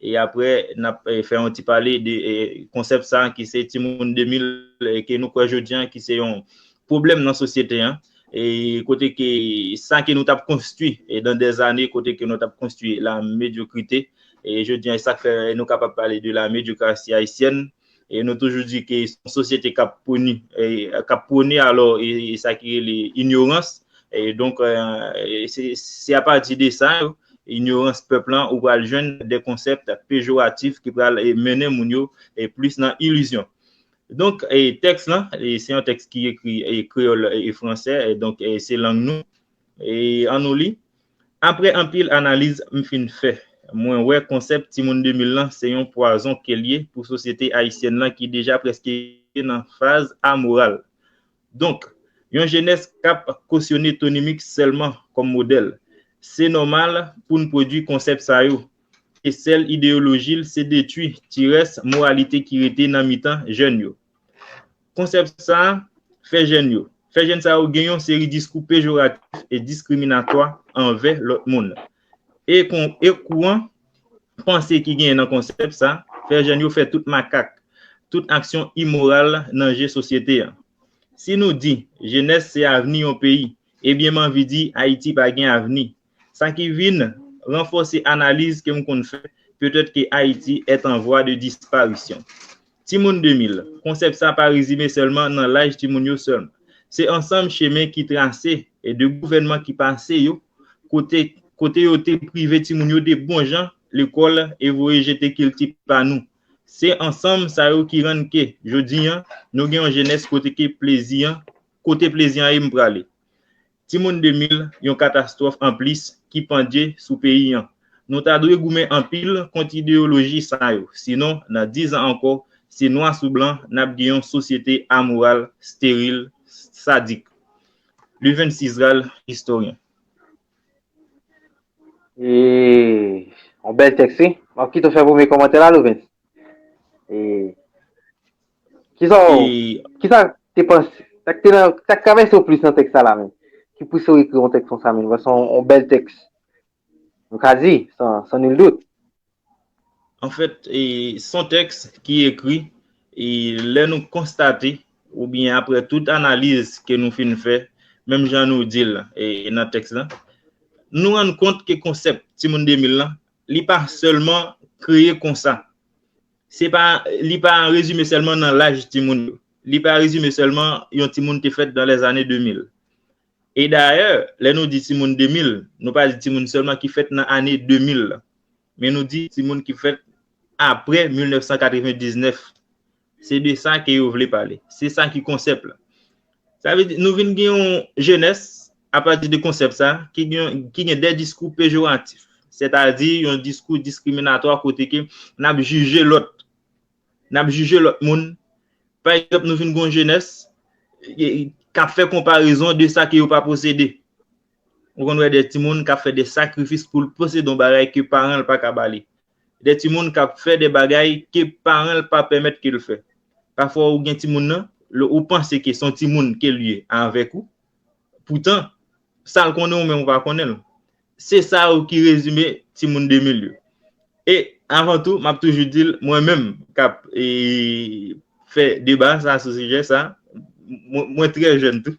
E apre n ap fè yon ti pale de konsèp sa ki se timoun 2000 ke nou kwè jodi an ki se yon pwoblèm nan sosyete an e kote ke sa ke nou t ap konstwi dan dè zane kote ke nou t ap konstwi la medyokrite e jodi an e sa k fè nou kapab pale de la medyokrasi ayisyèn. e nou toujou di ke se yon sosyete k ap pwoni, k ap pwone alò sa ki rele inyorans, donk se apati de sa yo, inyorans pèp lan, ou pral jwenn de konsèpt pejoratif ki pral mennen moun yo plis nan ilizyon. Donk tèks lan, se yon tèks ki ekri kreyòl e fransè, donk se lang nou, An nou li, Apre anpil analiz m fin fè, mwen wè konsèp Timoun 2000 lan se yon pwazon ke l ye pou sosyete ayisyèn lan ki deja prèske nan faz amoral. Donk, yon jenès k ap kosyone Tony Mix sèlman kòm modèl, se nòmal pou n pwodui konsèp sa yo, ke sèl ideyoloji l se detui ti rès moralite ki rete nan mitan jèn yo. Konsèp sa a fè jèn yo. Fè jèn sa yo gen yon seri diskou pejoratif e diskriminatwa anvè lòt moun. E e kouran panse ki genyen nan konsèp sa fè jèn yo fè tout makak, tout aksyon imoral nan je sosyete an. Si nou di, Jenès se avni yon peyi, ebyen m anvi di Ayiti pa gen avni. Sa ki vin ranfòse analiz ke m konn fè, Peut-être que Haïti est en voie de disparition. Timoun 2000, konsèp sa pa rezime sèlman nan laj timoun yo sèlman. Se ansanm chemen ki trase e de gouvènman ki pase yo, kote kote yo te prive timoun yo de bon jan lekòl e voye jete kilti pa nou. Se ansanm sa yo ki rann ke, jodi an, nou gen yon jenès kote ke plezi an, kote plezi an ye m prale. Timoun 2000, yon katastwòf anplis ki pandje sou peyi an. Nou ta dwe goumen anpil kont ideyoloji sa yo, sinon nan 10 an ankò, se nwa sou blan n ap gen yon sosyete amoral, steril, sadik. Luvens Israel, Istoryen. Yon bèl tèks wi. M ap kite w fè premye kòmantè la Luvens. Kisa w, kisa w te panse, sa k te nan, sa k travèse w plis nan tèks sa la menm? Ki pouse w ekri yon tèks konsa menm? Paske se yon bèl tèks, nou ka di, san nul dout. Anfèt, se yon tèks ki ekri, lè nou konstate, oubyen aprè tout analiz ke nou fin fè, menm jan nou di l nan tèks la, nou rann kont ke konsèp Timoun 2000 lan, li pa sèlman kreye konsa. Se pa, li pa rezime sèlman nan laj timoun yo. Li pa rezime sèlman yon timoun te fèt dan lè zane 2000. E dayè, lè nou di timoun 2000, nou pa di timoun sèlman ki fèt nan ane 2000 lan. Men nou di timoun ki fèt apre 1999. Se de sa ke yo vle pale. Se sa ki konsèp la. Sa vle di nou vin gen yon jenès apati de konsèp sa ki gen de diskou pejoratif, sètadi yon diskou diskriminatwa kote ke n ap jije lòt, n ap jije lòt moun. Pa egzanp, nou vin gen yon jenès k ap fè konparezon de sa ke yo pa posede. Ou konn wè de timoun k ap fè de sakrifis pou l posede yon bagay ke paran l pa ka ba li. Gen timoun k ap fè de bagay ke paran l pa pèmèt ke l fè. Pafwa ou gen timoun nan, ou panse ke se yon timoun ke l ye avèk ou, poutan, sa l konnen ou menm ou pa konnen l. Se sa yo ki rezime timoun 2000 yo. E, avan tou, m ap toujou di l, mwen menm k ap fè deba sa sou sijè sa, mwen trè jèn tou.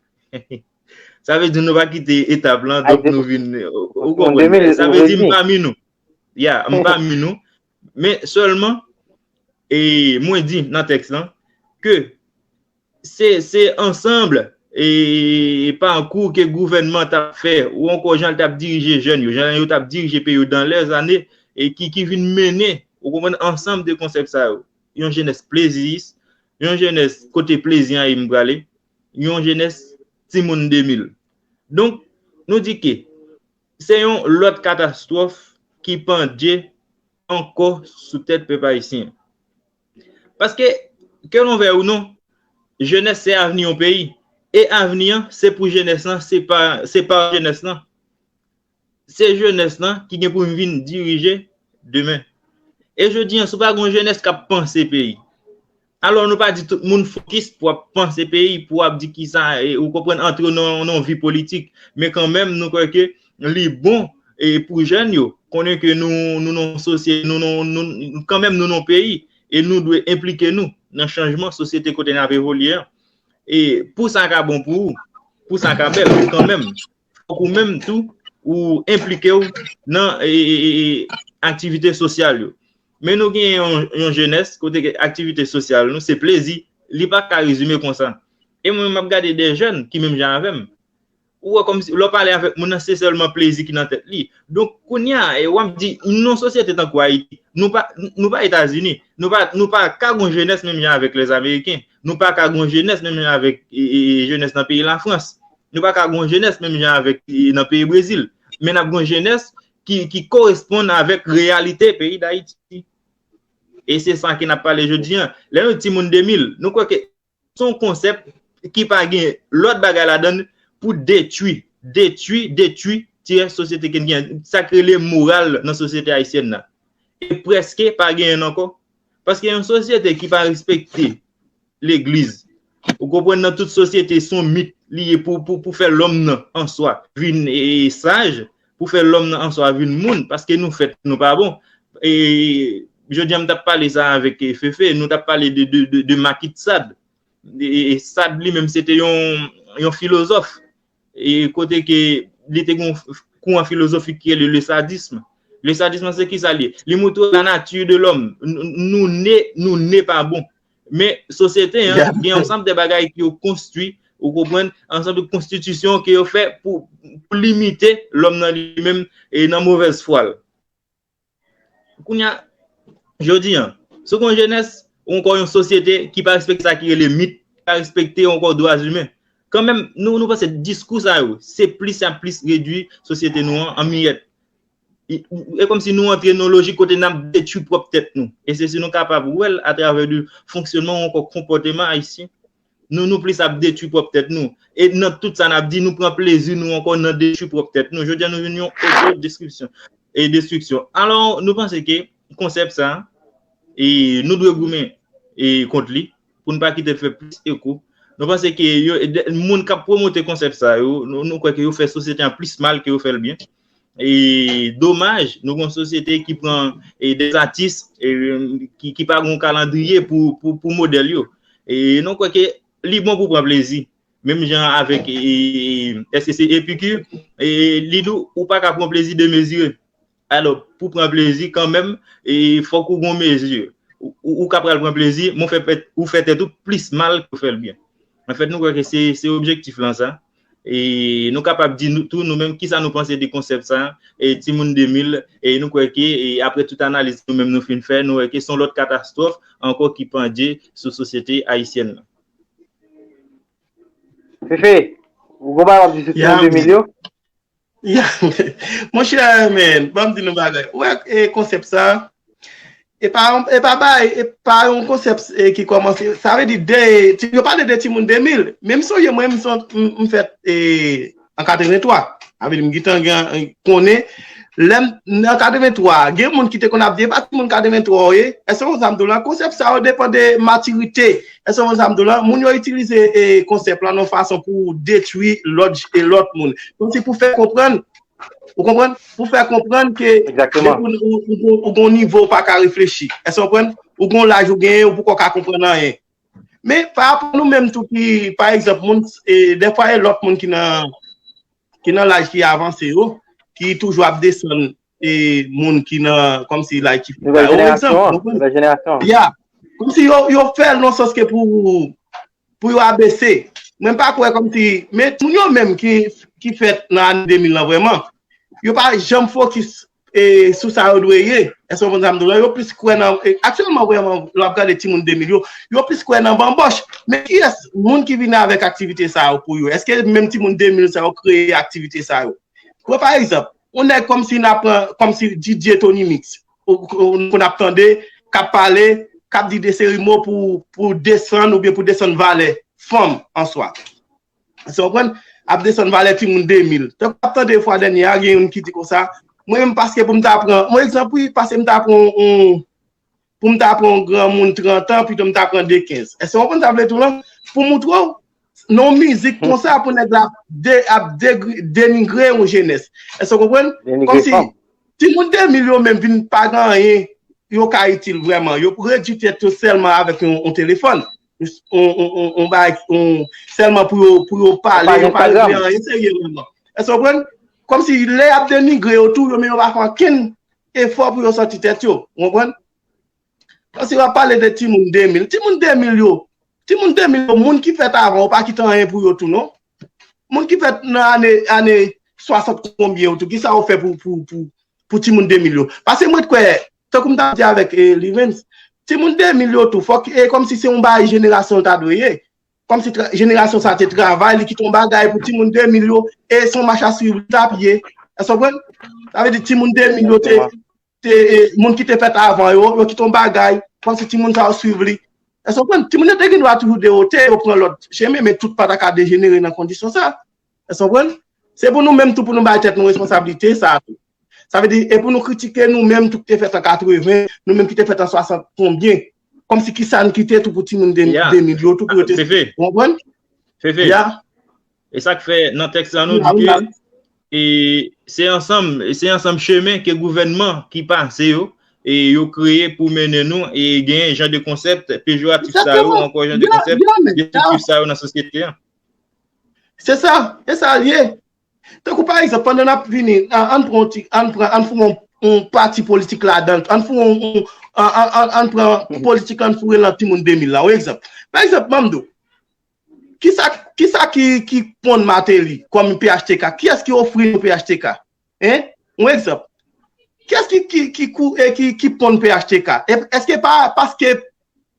Sa vle di nou pa kite etap lan, donk nou vin, ou konprann? Sa vle di m pami nou. Ya, m pami nou, men sèlman, e mwen di nan tèks lan, ke se se ansanble e pakou ke gouvènman ta fè, ou ankò jan l tap dirije jèn yo, jan yo tap dirije peyi yo dan lè zane, e ki ki vin mennen, ou konprann, ansanm de konsèp sa yo. Yon jenès pleziyis, yon jenès kote plezi an ye m prale, yon jenès timoun 2000. Donk, nou di ke, Se yon lòt katastwòf ki pandje ankò sou tèt pèp ayisyen. Paske, ke nou vèy ou non, jenès se avni yon peyi. E avni an, se pou jenès lan, se pa jenès lan. Se jenès lan ki gen pou vin dirije demen. E jodi an, si w pa gen yon jenès k ap panse peyi, Alò nou pa di tout moun fokis pou ap panse peyi, pou ap di kisa, ou konprann, antre nan yon vi politik. Men kanmenm nou kwè ke li bon pou jèn yo konnen ke nou nan yon sosyete, nou nan yon, kanmenm nou nan yon peyi e nou dwe enplike nou nan chanjman sosyete kote n ap evolye an. E pou sa ka bon pou ou, pou sa ka bèl kanmenm. fòk ou menm tou ou enplike w nan aktivite sosyal yo. Men nou gen yon jenès kote ke aktivite sosyal nou se plezi, li pa ka rezime konsa. E mwen menm m ap gade de jèn ki menm jan avè m, ou wè kòmsi lè w pale avèk moun nan se sèlman plezi ki nan tèt li. Donk kounye a w ap di nan yon sosyete tankou Ayiti, nou pa nou pa Etazini, nou pa nou pa ka gen yon jenès menm jan avèk lèzameriken, nou pa ka gen yon jenès menm jan avèk jenès nan peyi Lafrans. Nou pa ka gon jenès menm jan avèk nan peyi Brezil. Men nap gon jenès ki koresponn avèk reyalite peyi Dayiti. E se sa ke nap pale jodi an. Lè nou di timoun 2000, nou kwè ke son konsèp ki pa gen lòt bagay la dan pou detui, detui, detui tiyè sosyete ke n gen. Sa ki rele moral nan sosyete ayisyèn nan. E preske pa gen ankò Paske yon sosyete ki pa respekte legliz, ou konprann nan tout sosyete son mit li ye pou fè lòm nan an swa vin saj, pou fè lòm nan an swa vin moun, paske nou fèt nou pa bon. Jodi an m t ap pale sa avèk Fefe, nou t ap pale de Makitsad. Sad li menm se te yon filozòf E kote ke li te gen yon kouran filozofik ki rele le sadisme. Le sadisme lan se ki sa li ye? Li montre la nature de l'homme. Nou ne, nou ne pa bon. Men sosyete an gen yon ansanm de bagay ke yo konstwi, ou konprann, ansanm de konstitisyon ke yo fè pou limite lòm nan li menm e nan movèz fwa l. Kounye a, jodi an, si w gen yon jenès ou ankò yon sosyete ki pa respekte sa ki rele mit, ki pa respekte ankò dwa zimen, kanmenm nou panse diskou sa yo se plis y ap plis redui sosyete nou an an miyèt. E kòmsi nou antre nan yon lojik kote n ap detui pwòp tèt nou. E se si nou kapab wè l atravè de fonksyonman ou ankò konpòteman ayisyen Nou nou plis ap detwi pwòp tèt nou. E nan tout sa nap di nou pran plezi nou ankò nan detwi pwòp tèt nou. Jodi a nou vin yon oto deskripsyon e destriksyon. Alò nou panse ke konsèp sa e nou dwe goumen e kont li pou n pa kite l fè plis eko. Nou panse ke yo moun kap pwomote konsèp sa yo nou kwè ke yo fè sosyete an plis mal ke yo fè l byen. e domaj nou gen yon sosyete ki pran de atis ki pa gen yon kalandriye pou modèl yo e nou kwè ke li bon pou pran plezi menm jan avèk èske se Epikir li di ou pa ka pran plezi demezire alò pou pran plezi kanmenm fòk ou gen yon mezi ou ka pral pran plezi men ou fè tèt ou plis mal ke ou fèl byen anfèt nou kwè ke se objektif lan sa. E nou kapab di tou nou menm kisa nou panse de konsèp sa, Timoun 2000, e nou kwè ke apre tout analiz nou menm nou fin fè, nou wè ke son lòt katastwòf ankò ki pandje sou sosyete ayisyèn nan. Fefe, ou gen bagay wap di sou Timoun 2000 yo? Monchè men, banm di nou bagay. Ou wè konsèp sa, e pa yon konsèp ki kòmanse, sa vle di, yo pale de timoun 2000, men m sonje mwen m fèt an 83, sa vle di m gentan konnen, lè m nan 83, gen moun ki te konn ap di, e pa timoun 83 ou ye, èske ou konn sa m di w la, konsèp sa yo depan de matirite. Èske w konprann sa m di w la? Moun yo itilize konsèp la yon fason pou detwi lòt e lòt moun. Kòmsi pou fè konprann, ou konprann? Pou fè konprann ke ou gon nivo ou pa ka reflechi. Èske w konprann? Ou gon laj ou genyen, ou poko ka konprann anyen. Men, pa rapò nou menm tou ki, pa egzanp, moun, dèfwa e lòt moun ki nan laj ki avanse yo, ki toujou ap desann e moun ki nan kom si like ki fè yo egzanp ya kom si yo fè l nan sòs ke pou pou yo abese mwen pa kwe kom si men moun yo menm ki fèt nan ane 2000 lan vreman yo pa janm fokis e sou sa yo dwe ye eske w konprann sa m di w la yo plis kwe nan aktyèlman vreman lè w ap gade timoun 2000 yo yo plis kwe nan banboch men ki es moun ki vini avèk aktivite sa yo pou yo eske menm timoun 2000 sa yo kreye aktivite sa yo kwe pa egzanp Yon nèg kòmsi n ap kòmsi Didier Tony Mix pou n ap tande k ap pale, k ap di de seri mo pou desann oubyen pou desann valè fanm an swa. Èske w konprann? Ap desann valè timoun 2000. Tankou m ap tande fwa dènyè a gen youn ki di konsa, mwen menm paske pou m ta pran yon egzanp wi, pase m ta pran yon pou m ta pran yon granmoun 30 an pito m ta pran 2 15. Èske w konprann sa m vle di w la? Pou montre w nan yon mizik konsa pou nèg la ap denigre yon jenès. Èske w konprann? Kòm si timoun 2000 yo menm vin pa gen anyen yo ka itil vrèman. Yo redui tèt yo sèlman avèk yon telefòn. Yon bagay sèlman pou yo pale. Yo pa gen anyen serye vrèman. Èske w konprann? Kòm si lè y ap denigre yo tou yo menm yo pa fè ankenn Efò pou yo santi tèt yo. Ou konprann? Paske wap pale de timoun 2000. Timoun 2000 yo, timoun 2000 yo, moun ki fèt avan yo pa kite anyen pou yo tou non. Moun ki fèt nan ane, ane 60 konbyen yo tou, ki sa yo fè pou, pou, pou, pou timoun 2000 yo. Paske mwen t kwè, tankou m tap di avèk Lirens, timoun 2000 yo tou, fòk e kòmsi se yon bagay jenerasyon ta dwe ye. Kòm si jenerasyon sa te travay, li kite yon bagay pou timoun 2000 yo, e son mach a swiv li tap ye. Èske w konprann? Sa vle di timoun 2000 yo te, te, moun ki te fèt avan yo, yo kite yon bagay, kòm si timoun sa yo swiv li. Èske w konprann? Timoun yo te gen dwa toujou dewote, yo pran lòt chemen, men tout pa ta ka dejenere nan kondisyon sa. Èske w konprann? Se pou nou menm tou pou nou bay tèt nou responsablite sa a tou. Sa vle di, e pou nou kritike nou menm tou ki te fèt an 80, nou menm ki te fèt an 60 konbyen. Kòmsi ki sa n kite tou pou timoun 2000 yo tou pou yo te. Fefe. Ou konprann? Fefe. Ya. E sa k fè nan tèks la nou di ke e se ansanm, se ansanm chemen ke gouvènman ki pase yo e yo kreye pou mennen nou e genyen jan de konsèp pejoratif sa yo ankò jan de konsèp destriktif sa yo nan sosyete an. Se sa, e sa l ye. Tankou pa egzanp, pandan n ap vini, ann pran yon ti, ann pran, ann foure yon pati politik ladan l, ann foure yon, ann pran politik la ann foure l nan timoun 2000 la, yon egzanp. Pa egzanp, ban m di w, ki sa, ki sa ki ponn Martelly kòm phtk? Kiyès ki ofri nou phtk? Hein? Yon egzanp. Kiyès ki kou e ki ponn phtk? Eske pa paske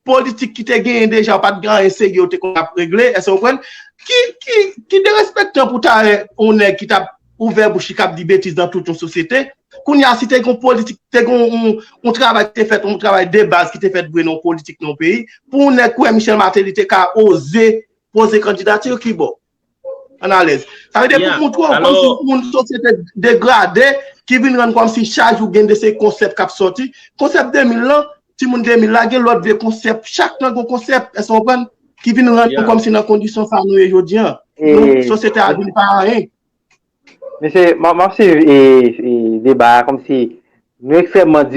politik ki te genyen deja ou pa t gen anyen serye ou te konn ap regle? Èske ou konprann? Ki derespektan pou ta wè yon nèg ki t ap ouvè bouch li k ap di betiz nan tout yon sosyete. Kounye a si te gen yon politik, te gen yon travay ki te fèt, yon travay de baz ki te fèt vre nan yon politik nan yon peyi, pou yon nèg kouwè Michel Martelly te ka oze poze kandidati l, ki bò? An alèz. Sa vle di pou moun twè ou kòm si moun sosyete degrade ki vin rann kòm si chak jou gen de se konsèp k ap sòti. Konsèp 2000 lan, timoun 2000 la gen lòt vye konsèp. Chak nan gen konsèp, èske ou konprann, ki vin rann nou kòm si nan kondisyon sa nou ye jodi an. Sosyete a vin pa anyen. Mesye, m ap swiv deba a kòm si nou ekstrèmman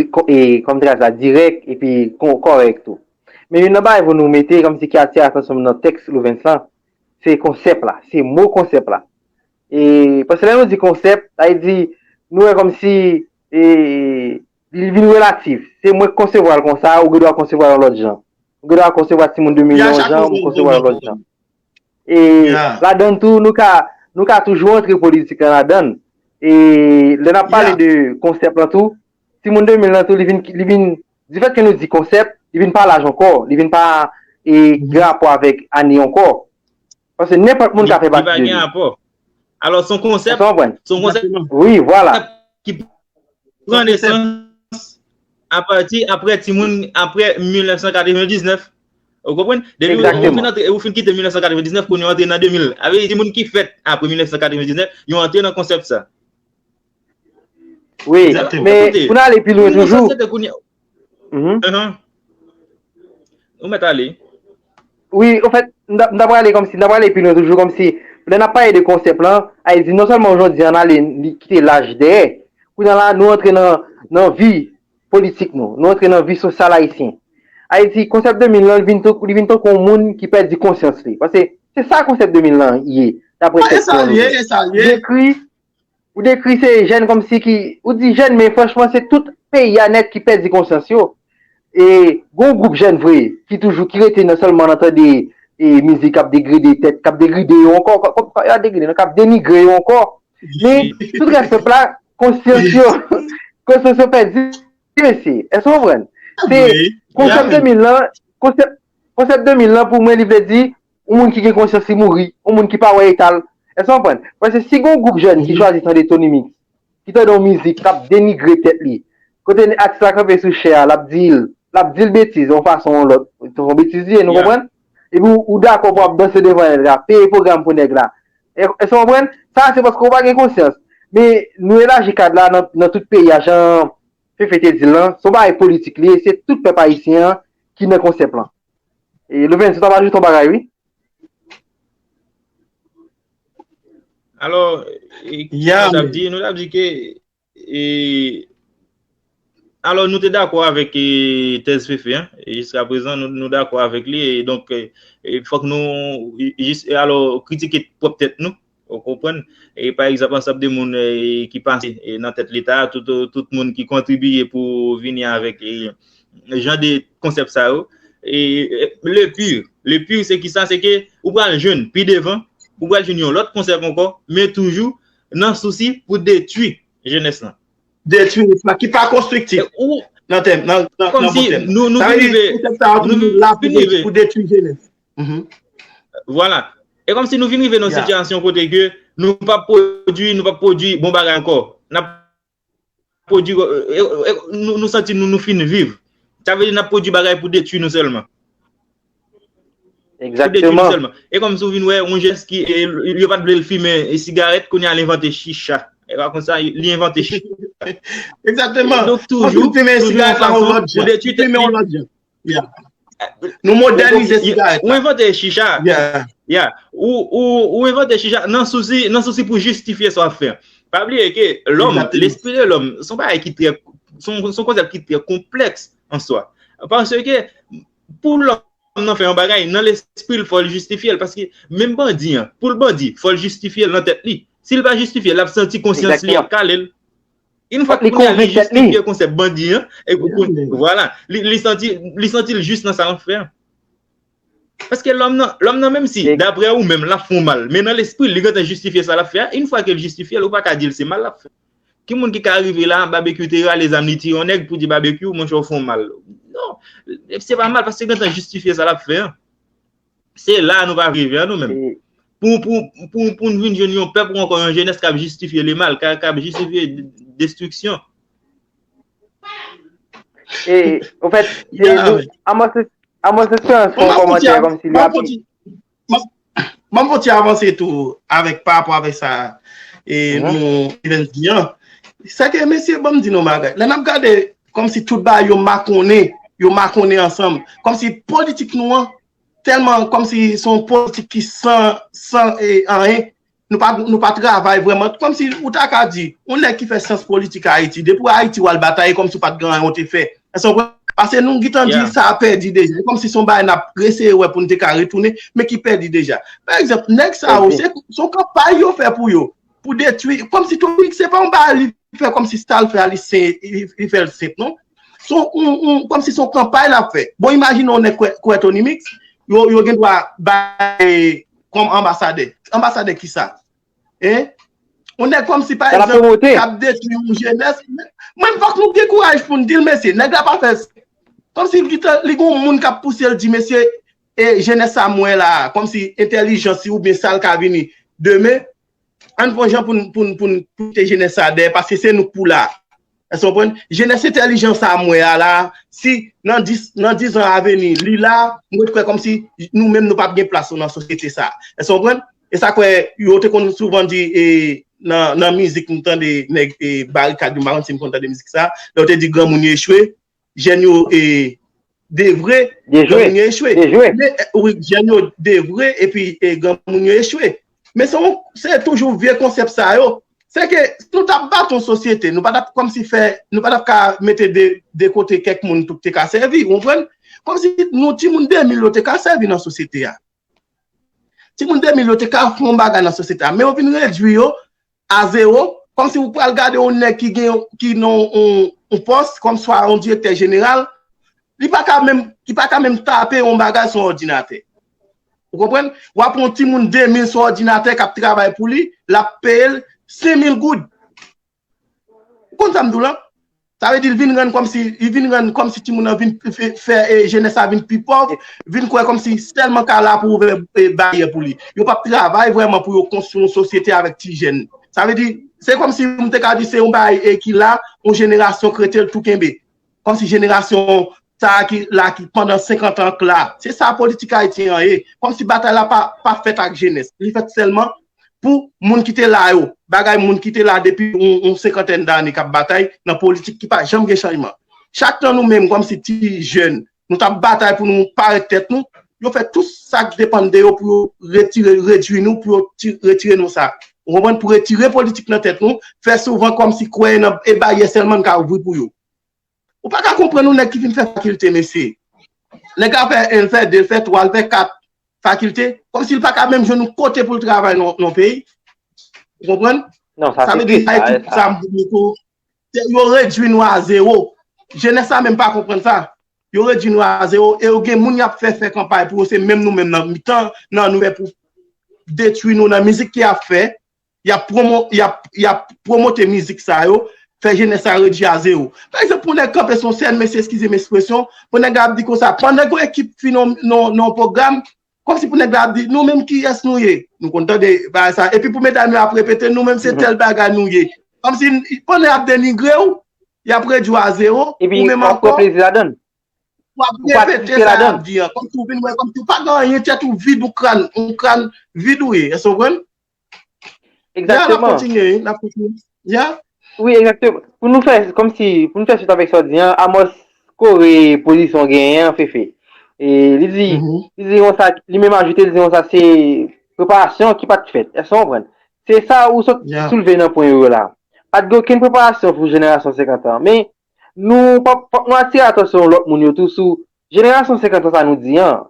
kòm tras la dirèk epi kòrèk tou. Men youn nan bagay pou nou mete kòm si ki atire atansyon m nan tèks Louvens lan, Se konsèp la, se mo konsèp la. E, paske lè nou di konsèp, sa vle di, nou wè kòm si, e, li vin relatif. Se mwen k konsevwa l konsa, ou gen dwa konsevwa l yon lòt jan. Ou gen dwa konsevwa timoun 2 milyon yon jan, mwen konsevwa l yon lòt jan. E, ladann tou, nou ka, nou ka toujou antre politik lan ladann. E, lè n ap pale de konsèp lan tou, timoun 2 mil lan tou li vin, li vin, difèt ke nou di konsèp, li vin pa laj ankò, li vin pa e gen rapò avèk ane ankò. Paske nenpòt moun ka fè pati de li. Li pa gen rapò. Alò son konsèp. Èske w konprann? Son konsèp. Wi, vwala. Ki pran nesans apati apre timoun, apre 1999. Ou konprann? Egzakteman. Depi ou fin kite 1999, kounya ou antre nan 2000. Sa vle di timoun ki fèt apre 1999, yo antre nan konsèp sa. Wi, men pou nan ale pi lwen toujou. Ou met ale? Wi, ou fèt, m ta pou ale komsi, m ta pou ale pi lwen toujou komsi. Lè nan pale de konsèp lan, a yi di non sèlman oujou di an ale li kite laj dèyè. Kou nan la, nou antre nan vi politik nou. Nou antre nan vi sosyal ayisyen. A yi di konsèp 2000 lan, li vin tonkou yon moun ki pèdi konsyans li. Pase, se sa konsèp 2000 lan ye. Sa ye, sa ye. Ou dekri se jèn kòmsi ki, ou di jèn men franchman se tout peyi a nèt ki pèdi konsyans yo. E gon gwoup jèn vre ki toujou ki rete nan sèlman nan tande mizik k ap degrede tèt, k ap degride yo ankò, yo a degride non, k ap denigre yo ankò. Men sou trè senp la konsyans yo, konsyans yo pèdi mesye. Èske ou konprann? Se konsèp 2000 lan, konsèp 2000 lan pou mwen li vle di Yon moun ki gen konsyans li mouri, yon moun ki pa wè eta l. Èske w konprann? Paske si gen yon gwoup jèn ki chwazi tande Tonymix, ki tande yon mizik k ap denigre tèt li, kote atis la kanpe sou chè a, l ap di l, l ap di l betiz yon fason ou yon lòt, se yon betiz li ye, nou konprann? Epi ou dakò pou w ap danse devan nèg la, peye pwogram pou nèg la. Èske w konprann? Sa a se paske ou pa gen konsyans. Men, nou elaji kad la nan tout peyi a, jan Fefe te di l lan, se yon bagay politik li ye, se tout pèp ayisyen an ki nan konsèp lan. E Louven se ta pa di ton bagay wi. Alò, kisa nou tap di? Nou tap di ke e alò nou te dakò avèk e tèz Fefe an, e jiska prezan nou dakò avèk li e donk e fòk nou jis e alò kritike pwòp tèt nou Ou konprann? E pa egzanp ansanb de moun ki pase nan tèt leta a, tout moun ki kontribiye pou vini avèk jan de konsèp sa yo. E le pire, le pire se ki sa, se ke ou pral jwenn pi devan, ou pral jwenn yon lòt konsèp ankò, men toujou nan sousi pou detwi jenès lan. Detwi sa ki pa konstriktif nan tèm, nan bon tèm. Sa vle di konsèp sa a toujou la pou detwi jenès. Vwala. E kom si nou vin rive nan sitiyasyon kote ke nou pa pwodwi, nou pa pwodwi bon bagay anko. N ap pwodwi, nou santi nou nou fin viv. Sa vle di n ap pwodwi bagay pou detwi nou selman. Pou detwi nou selman. E kom si ou vin wè yon jens ki, yo pat vle l fimen sigaret, kounye a li envante chicha. E pa konsa, li envante chicha. Ekzakteman. Donk toujou, toujou yon fason pou detwi tèt li. Nou modernize sigaret la. Ou invente chicha. Ya. Ou invente chicha nan souci pou justifier sa wap fè. Pa bliye ke lòm, l'esprit de lòm, son bagay ki trè, son konsèp ki trè konplèks an swa. Parce ke pou lòm nan fè yon bagay, nan l'esprit li fòl justifier. Parce ke menm bandi an, poul bandi, fòl justifier nan tèt li. Sil pa justifier, lap santi konsyans li ap kalel. Yn fwa li konvenk tèt li. Li jistifye konsèp bandi an. Vwala. Li santi, li santi l jis nan sa lap fè an. Paske lòm nan, lòm nan menm si daprè ou menm lap fè w mal, men nan lespri l li gentan jistifye sa lap fè a. Yn fwa ke l jistifye l, ou pa ka di l se mal lap fè. Ki moun ki ka rive la, Babekyou te rale zam li tiye yon nèg pou di Babekyou monchè ou fè w mal. Non. Se pa mal paske l gentan jistifye sa lap fè an. Se la nou va rive an nou menm. Pou nou vin jwenn yon pèp ou ankon yon jenès kap jistifye le mal, kap jistifye destriksyon. E, ou fèt, se nou, a mò se, a mò se se an son komantè kom si li ap. Mò mò ti avanse tou avèk pa apò avèk sa e nou, Evens Dian. Sa ke mesye banm di nou bagay. Lè nap gade Kòm si tout bagay yo makonnen, yo makonnen ansanm. Kòm si politik nou an, tèlman kòm si son politik ki san, san e anyen, nou pa, nou pa travay vrèman. Kòm si ou ta ka di, yon nèg ki fè syans politik Ayiti, depi ou Ayiti ou al batay, e kòm si ou pat gen anyen ou te fè. Èske ou konprann? Pase nou gitan di sa a pèdi deja. E kòm si son bagay nap reseye wè pou nou te ka retounen, men ki pèdi deja. Pa egzanp, nèg sa yo, se, son kanpay yo fè pou yo. Pou detwi, kom si Tony se pa yon bagay li fè kom si sa l fè a li se, li fè l senp non. Se yon, kom si se yon kanpay l ap fè. Bon imajine yon nèg k wè Tony Mix, yo, yo gen dwa bay li kom anbasadè. Anbasadè kisa? Hein? Yon nèg kom si pa egzanp k ap detwi yon jenès, menm fòk nou gen kouraj pou n di l mesye, nèg la pa fè, kom si li gen yon moun k ap pouse l di mesye, E jenès sa m wè la a, kòmsi entèlijans li oubyen sa l ka vini demen, ann fon jan pou n kite jenès sa a dèyè paske se nou k pou la. Èske w konprann? Jenès entèlijan sa a m wè a la a, si nan 10 nan 10 zan aveni li la, m ret kwè kòmsi nou menm nou p ap gen plas nou nan sosyete sa a. Èske w konprann? E sa k fè yo te konn souvan di e nan nan mizik m tande nèg e Barikad yo m pa konn si n konn tande mizik sa a lè yo te di granmoun yo echwe Jèn yo e devre, granmoun yo echwe. Dejwe. Jèn yo devre epi granmoun yo echwe. Men se toujou vye konsèp sa yo. Se ke si nou ta bat yon sosyete, nou pa ta kòm si fè, nou pa ta ka mete de kote kèk moun pou te ka sèvi, ou konprann? Kòm si nou ti moun 2000 yo te ka sèvi nan sosyete a. Ti moun 2000 yo te ka fè yon bagay nan sosyete a. Men yo vin redwi yo. A zewo, kòmsi ou pral gade yon nèg ki gen, ki nan yon pòs, kòm swa yon direktè jeneral, li pa ka menm, li pa ka menm tape yon bagay sou yon òdinatè. Ou konprann? W ap pran yon timoun 2000 sou òdinatè k ap travay pou li, l ap peye l 5000 goud. Ou konn sa m di w lan? Sa vle di li vin rann kòmsi, li vin rann kòmsi timoun nan vin fè jenès la vin pi pòv, vin kwè kòmsi sèlman ka la pou ouvè baryè pou li. Yo pap travay vrèman pou yo konstwi yon sosyete avèk ti jèn. Sa vle di, se kòmsi m te ka di se yon bagay ki la, yon jenerasyon k rete l tou kenbe. Kòmsi jenerasyon sa a ki la ki pandan 50 an k la. Se sa politik ayisyen an ye. Kòmsi batay la pa fèt ak jenès. Li fèt sèlman pou moun ki te la yo, bagay moun ki te la depi yon senkantèn dane kap batay nan politik ki pa janm gen chanjman. Chak nan nou menm kòm si ti jèn nou tap batay pou nou parèt tèt nou, yo fè tout sak depann de yo pou yo retire, redwi nou, pou yo retire nou sa. Ou konprann? Pou retire politik nan tèt nou, fè souvan kòm si kwè nan e baryè sèlman n ka ouvri pou yo. Ou pa ka konprann yon nèg ki fin fè fakilte mesye. Nèg la fè 1, l fè 2, l fè 3, l fè 4 fakilte, kòm si l pa ka menm jwenn yon kote pou l travay nan yon peyi. Ou konprann? Non, sa se trist la, e sa. Yo redwi nou a zewo. Jenès la menm pa konprann sa. Yo redwi nou a zewo e yo gen moun y ap fè fè kanpay pou yo se menm nou menm nan mitan nan nou menm pou detwi nou nan mizik y ap fè. Yap promote mizik sa yo, fè jenès la redjaze yo. Pa egzanp pou nèg kanpe sou yon sèn, mesye eskize m espresyon, pou nèg la ap di konsa, pandan gen yon ekip ki fin nan yon pwogram, kòmsi pou nèg la ap di, nou menm kiyès nou ye? Nou konn tande bagay sa. Epi pou medam yo ap repete, nou menm se tèl bagay nou ye. Kòmsi, pandan yap denigre w, yap redjaze w, ou menm ankò, wap repete sa yap di an. Kòmsi ou vin wè, kòmsi ou pa gen anyen, tèt ou vid, ou kran, ou kran vid ou ye. Èske w konprann? Exactement. Oui, exactement. Pou nou fè, kòm si, pou nou fè suit avèk sa w di an, Amos kore pozisyon genyen an, Fefe. E li di, li di yon sa, li menm ajoute, li di yon sa se preparasyon ki pat fèt. Èske w konprann? Se sa ou sot soulve nan pwen yo la. Pat gen okenn preparasyon pou jenerasyon 50 an. Men, nou, fòk nou atire atansyon lòt moun yo tou sou jenerasyon 50 an sa nou di an.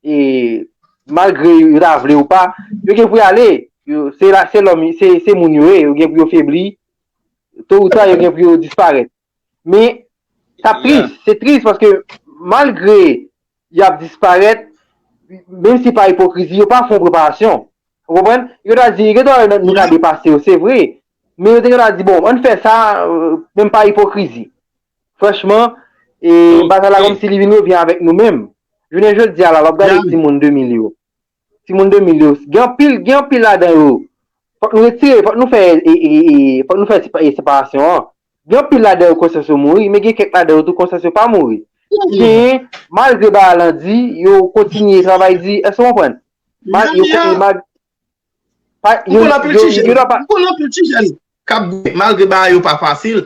e malgre yo ta vle ou pa, yo gen pou y ale, se moun yo ye, yo gen pou yo febli, to ou ta yo gen pou yo disparèt. Men, sa tris, se tris paske malgre y ap disparèt, menm si pa ipokrizi, yo pa fon preparasyon. Ou konprann? Yo ta di, gen ta wè nou ta depase yo, se vre, men yo te gen ta di, bon, an fè sa, menm pa ipokrizi. Franchman, e bagay la kòmsi li vin revyen avèk nou menm. Jounen jodi a la, lè w ap gade timoun 2000 yo, timoun 2000 yo, gen anpil, gen anpil ladan yo, fòk nou retire, fòk nou fè, e, e, e, fòk nou fè separasyon an. Gen anpil ladan yo konsyans yo mouri, men gen kèk ladan yo tou konsyans yo pa mouri. Ki genyen, malgre bagay lan di, yo kontinye travay di. Èske w konprann? Mal, yo, yo mal. M konn anpil ti jèn, m konn anpil ti jèn k ap goumen, malgre bagay yo pa fasil,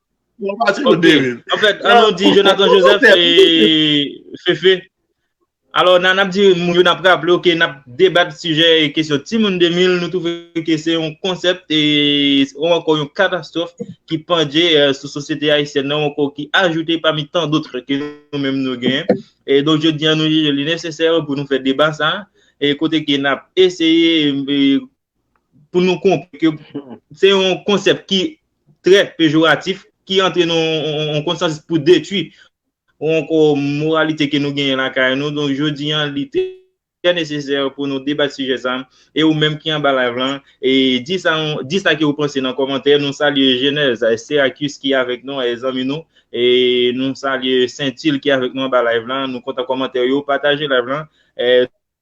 Mwen pa ti mwen deri. An fèt, an nou di Jonathan Joseph e Fefe. Alò, nan ap di moun yo nan ap raple yo ke nan ap debat sijè e kesyon timoun 2000, nou touve ke se yon konsèp e ou ankò yon katastrof ki pandje sou sosyete ayisyèn nan ou ankò ki ajoute pami tan dotre ke nou menm nou gen. E donk jodi an nou jije li nesesè pou nou fè deba sa e kote ke nan ap eseye pou nou konpre ke se yon konsèp ki trè pejoratif, ki antre nan yon konsansis pou detwi yon moralite ke nou genyen lakay nou. Donk jodi an li trè nesesè pou nou debat sijè sa. E ou menm ki anba live lan, di sa ke ou panse nan kòmantè. Nou salye Genèse, Seracus ki avèk nou, zanmi nou. E nou salye Saintil ki avèk nou anba live lan. Nou kontan kòmantè yo. Pataje live lan.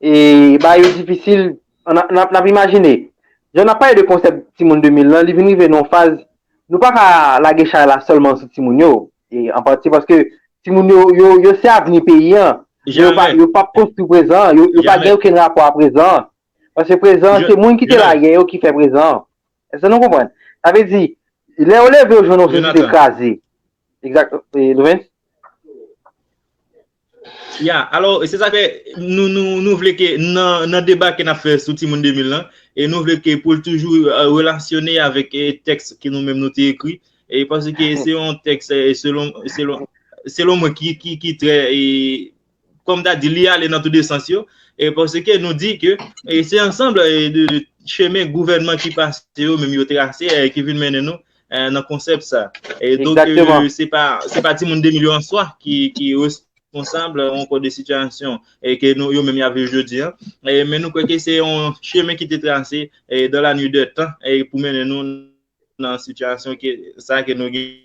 E bagay yo difisil, nap imajine. Jan nap pale de konsèp timoun 2000 lan, li vin rive nan yon faz, nou pa ka lage chay la sèlman sou timoun yo, e an pati paske timoun yo, yo se avni peyi an, men yo pap konstwi prezan an, yo pa gen okenn rapò a prezan an, paske prezan an se moun ki te la yè yo ki fè prezan an. Èske nou konprann? Sa vle di, lè yo leve yo jwenn yon sosyete kraze. Exact. Louvens? Ya, alò, se sa fè, nou vle ke nan deba ke nap fè sou Timoun 2000 lan, e nou vle ke pou l toujou relasyone avèk tèks ke nou menm nou te ekri, e paske se yon tèks selon mwen ki trè e... kòm ta di li ale nan tou de sans yo, e paske nou di ke se ansanm de chemen gouvènman ki pase yo menm yo trase ki vin mennen nou nan konsèp sa. E donk se pa se pa timoun 2 milyon an swa ki responsab yon kò de sitiyasyon e ke nou yo menm y ap viv jodi an. Men nou kwè ke se yon chemen ki te trase dan la nwi dè tan pou mennen nou nan sitiyasyon sa ke nou gen.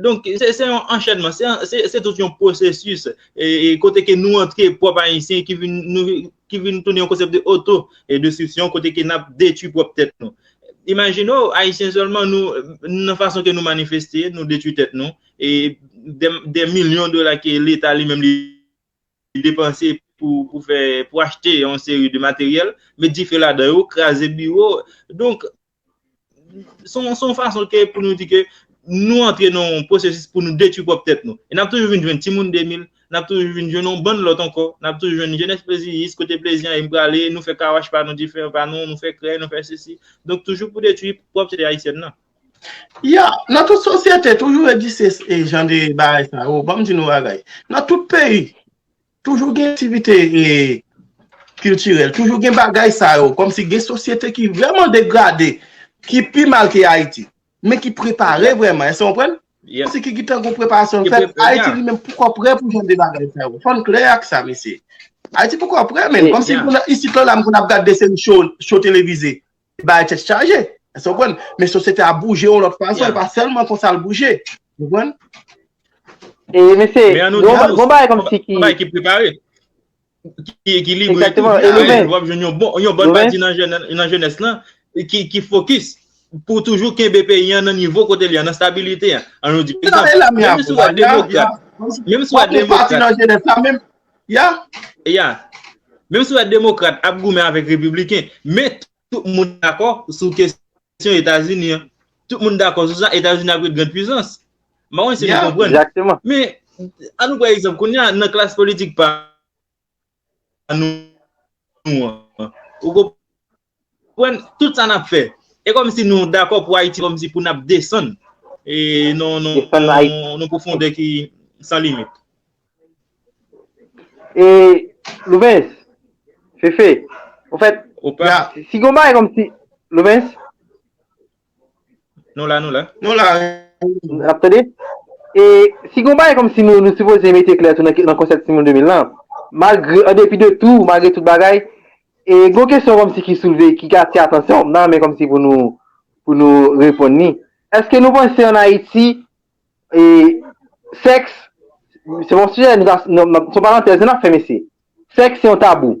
Donk, se yon anchènman, se tout yon pwosesis kote ke nou antre pwòp Ayisyen ki vin tounen yon konsèp de oto destriksyon kote ke n ap detwi pwòp tèt nou. Imajine w, Ayisyen sèlman, nan fason ke nou manifeste, nou detwi tèt nou, e dè milyon dola ke leta li menm li depanse pou achte yon seri de materyèl, met dife ladan yo, kraze biwo. Donk, Son fason ke pou nou di ke nou antre nan yon pwosesis pou nou detwi pwòp tèt nou. E n ap toujou vin jwenn timoun 2000, n ap toujou vin jwenn yon bann lòt ankò, n ap toujou jwenn jenès pleziyis, kote plezi an e m prale, nou fè kawash pa nou, dife pa nou, nou fè krèy, nou fè sesi. Donk toujou pou detwi pwòp sosyete ayisyèn nan. Ya! Nan tout sosyete, toujou egziste jan de bagay sa yo. Ban m di nou yon bagay. Nan tout peyi, Toujou gen aktivite kiltirèl, toujou gen bagay sa yo, kòm si gen sosyete ki vreman degrade, ki pi mal ke Ayiti, men ki prepare vreman, èske w konprann? Kòm si ki gen tan yon preparasyon fèt, Ayiti li menm poko prè pou jan de bagay sa yo, fò n klè ak sa mesye. Ayiti poko prè menm, kòm si isit lò la m konn ap gad de seri show televize, Bagay tèt chaje. Esou konprann? Men sosyete a bouje yon lòt fason, e pa sèlman konsa l bouje. Ou konprann? E mesye, yon bagay konm si ki... Yon bagay ki prepare. Ki ekilibre. Exactement. E nou men. Wap jwenn yon bon, yon bon pati nan jenès lan ki fokis pou toujou kenbe peyi an nan nivo kote li an, nan stabilite an. An nou di, pizan, menm si wap demokrat, menm si wap demokrat. Yon pati nan jenès la menm, Yeah yeah Menm si ou wè demokrat ap goumen avèk repibliken men tout moun dakò sou kesyon Etazini an. Tout moun dakò sou sa Etazini ap ret grand pwizans. M pa konn si nou konprann. Yeah exactement. Men an nou pran egzanp kounye a nan klas politik pa nou an. Ou konprann? Konprann tout sa nap fè. E komsi nou dakò pou Ayiti komsi pou nap desann e non non pwofondè ki san limit. E Louvens, Fefe, ofèt, si gon bagay komsi, Louvens? Nou la nou la. Nou la. Ap tande? E si gon bagay kòm si nou nou sipoze mete klè tou nan konsèp timoun 2000 lan, malgre an depi de tou, malgre tout bagay, e gon kesyon kòm si ki soulve, ki atire atansyon m nan men kòm si pou nou pou nou reponn ni. Èske nou panse an Ayiti e sèks se yon sijè nou ta se yon parantèz nou ta fè mesye. Sèks se yon tabou.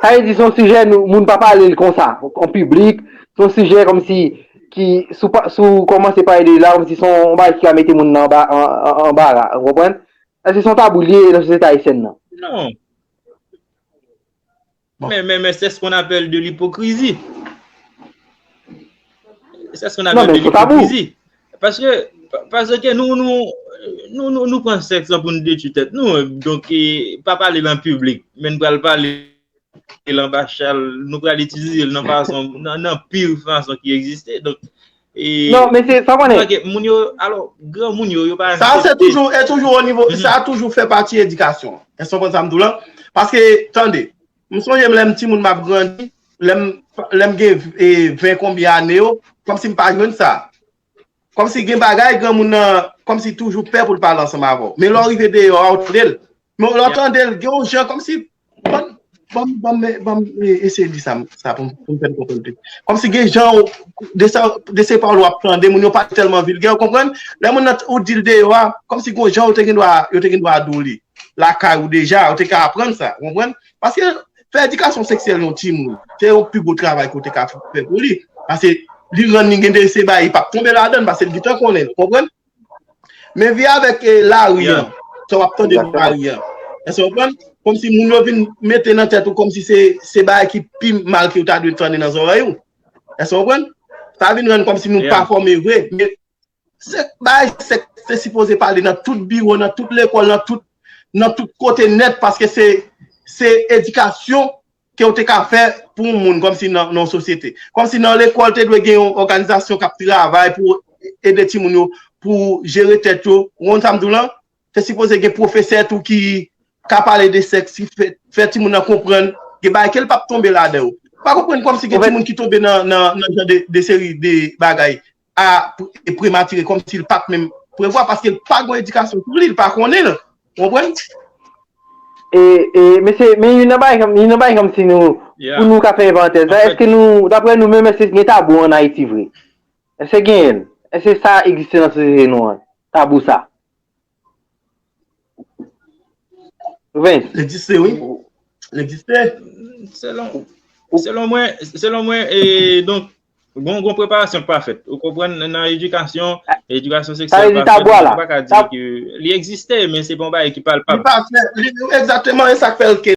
Sa vle di son sijè nou moun pa pale l konsa an piblik, son sijè kòmsi ki sou pa sou w kòmanse pale de l la kòmsi son on bagay ki ka mete moun nan anba an an anbara ou konprann? Èske son tabou l ye nan sosyete ayisyèn nan? Non. Men men men sè s kon apèl de lipokrizi. Sè s kon apèl de lipokrizi. Paske, paske nou, nou, nou, nou, nou pran sèks lan pou nou detwi tèt nou, donk e pa pale l an piblik, men nou pral pale l anba chal, nou pral itilize l nan fason, nan pi fason ki egziste, donk e Non, men se, sa w konnen Paske moun yo, alò, granmoun yo, yo pa aksepte Sa a se toujou, e toujou o nivo, sa a toujou fè pati edikasyon an. Èske w konprann sa m di w lan? Paske, tande, M sonje m lè m ti moun m ap grandi, lè m gen ven konbyen ane yo, kòm si m pa jwenn sa. Kòm si gen bagay gran moun nan, kòm si toujou pè pou l pale ansanm avè w. Men lè w rive deyò a, ou tande l. Men lè w tande l, gen yon jan kòm si, ban m eseye di sa pou m fè n konprann pi. Kòm si gen jan ou, de se pawòl w ap tande, moun yo pa tèlman vilgè, ou konprann? Lè moun nan, ou di l deyò a, kòm si gen yon jan yo te gen dwa di w li. lakay ou deja, ou te ka aprann sa, ou konprann? Paske, fè edikasyon seksyèl yon timoun, se yon pi gwo travay ke w te ka fè pou li. Paske, li rann li gen de se bagay, li pap tonbe ladan, paske li gentan konnen l, ou konprann? Men vi avèk lari an, sa w ap tande nan lari an, èske ou konprann? Kòmsi moun yo vin mete nan tèt ou kòmsi se bagay ki pi mal ke yo ta dwe tande nan zòrèy ou. Èske ou konprann? Sa vin rann kòmsi nou pa fòme vre. Se bay se te sipoze pale nan tout biwo, nan tout lekòl, nan tout nan tout kote nèt paske se se edikasyon ke ou te ka fè pou yon moun kòmsi nan yon sosyete. Kòmsi nan lekòl te dwe gen yon òganizasyon kap travay pou ede timoun yo pou jere tèt yo. Ou konn sa m di w lan? Te sipoze gen pwofesè tou ki ka pale de sèks ki fè fè timoun nan konprann gen bagay ke l pap tonbe ladan yo. M pa konprann kòmsi gen timoun ki tonbe nan nan jan de seri de bagay a prematire kòm si l pat menm prevwa paske l pa gon edikasyon sou li, l pa konnen l. Ou konprann? E, e, mesye, men youn nan bagay ke m, youn nan bagay kòm si nou, pou nou ka fè yon parantèz la, èske nou, daprè nou menm èske gen tabou an Ayiti vre? Èske genyen l? Èske sa egziste nan sosyete nou an, tabou sa? Vens. L egziste wi. L egziste. Selon mwen, selon mwen, e donk, bon bon preparasyon k pa fèt. Ou konprann nan edikasyon, edikasyon seksyon k pa fèt, ou pa ka di ki li egziste, men se pa yon bagay ki palpab. Li pa fèt. Li egzakteman e sa k fè l ke.